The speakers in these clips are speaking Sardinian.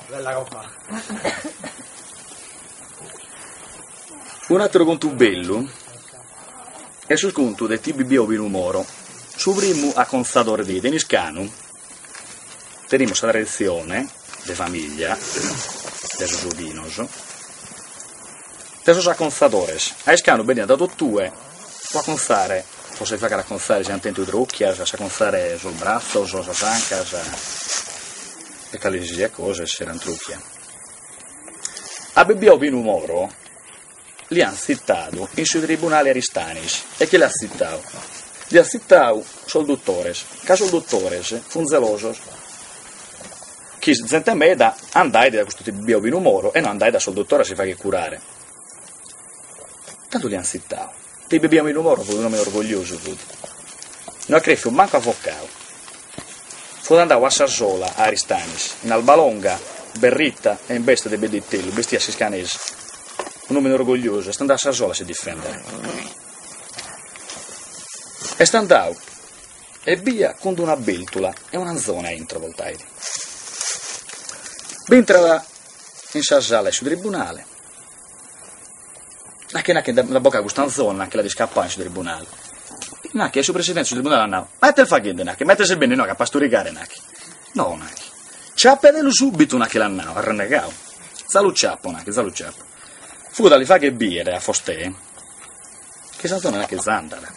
Bella coppa. Un'atteru contu bellu est su contu de ti Bibbiu Obinu Moro, su primu acontzadore de in Iscanu tenimus sa traditzione de famiglia de sos Obinos. de sos acontzadores, a Iscanu beniant dae totue pro acontzare, pro si faghere acontzare si ant tentu trocchias, a si acontzare sos bratzos, sas ancas e cale si siat cosa essere a ntrocchia. A Bibbiu Obinu Moro l'hiant tzitadu in su tribunale Aristanis e chie l'hat tzitadu? L'hiant tzitadu sos dottores, ca sos dottores fun zelosos. Chi zente meda andait dae custu ti Bibbiu Obinu Moro e no andait a sos dottores a si fagher curare. Tando l'iant tzitadu. Ti Bibbiu Obinu Moro fut un'òmine orgogliosu, fut. No at creffiu mancu avocadu. Fut andadu a sa sola a Aristanis, in alba longa, berrita e in beste de pedde 'e itellu, bestiat a s'iscanesa. Un'òmine orgogliosu, est andadu a sa sola a si difèndere. Est andadu Ebbia cun d'una bèltula e un'anzone a intro porteit. Bi intrat in sa sala 'e su tribunale, nachi nachi nde bogat cust'anzone, nachi l'at iscapau in su tribunale, nachi e su presidente 'e su tribunale at nau, ma ite est faghende nachi, ma ite ses bennidu a pasturigare nachi, no nachi, ciapedelu subitu nachi l'at nau, arrennegau, za lu ciapo nachi, za lu ciapo, fut a li fagher bier a Fostè. Chi s'anzone nachi za andat.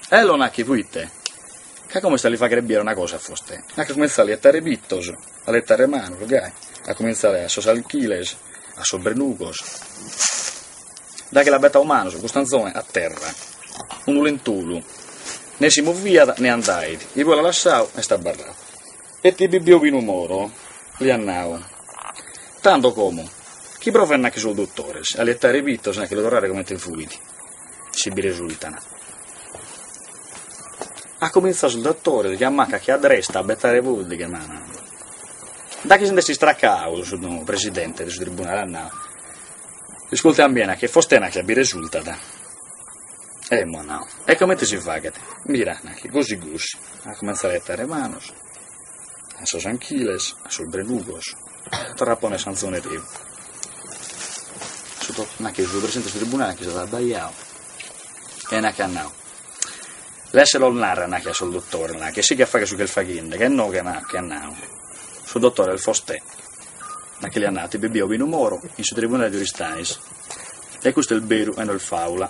Ello nachi proite? Ca como est a li faghere biere una cosa a fostè. Nachi at cominzau a li ettare pittos, a li ettare manos, gai, at cominzau a sos alchiles, a sos brenugos. Da chi l'at bettadu manos cust'anzone a terra, unu lentolu, ne si moviat ne andait, igue l'at lassadu, est abbarradu. E ti Bibbiu Obinu Moro li at nau, tando como, chi provent nachi sos dottores, a li ettare pittos e a che lu torrare comente fuit, si bi resultan. Ant cominzau sos dottores, chie a manca chie a dresta, a bettare pòddighe e manos. Da chi si nd'est istracau, su Presidente de su Tribunale at nau, Iscultet a mie, nachi, fostè nachi bi resultat. Emmo at nau, e comente si faghet? Mira, nachi, gosi gosi, at comintzau a 'ettare manos a sos anchiles, a sos brenugos, torrat a ponnere s'anzone reu, nachi su presidente 'e su tribunale chi s'est abbaidadu e nachi at nau, lasset los narrer, nachi, a sos dottores, nachi, e sigat a fagher su chi est faghende, chi inoghe, nachi, at nau, su dottore est fostè, nachi, li at nau a ti Bibbiu Obinu Moro in su tribunale de Aristanis, e custu est beru e no est fàula.